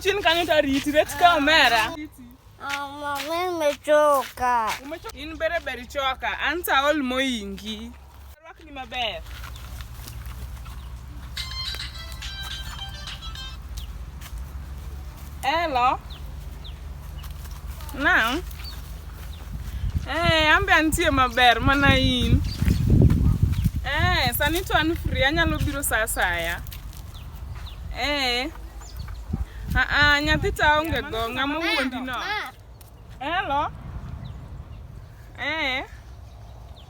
chini kanyo tariti reti ka omera Mama, nimechoka. Ini bere beri choka. Anta all moingi. Rwakni maber. Hello. Naam. Eh, ambe antie maber mana in. Eh, sani to an free anyalo biro saa asaya. Eh. Ah ah, nyathi ta onge go ng'ama wuondi no. Hello. Eh.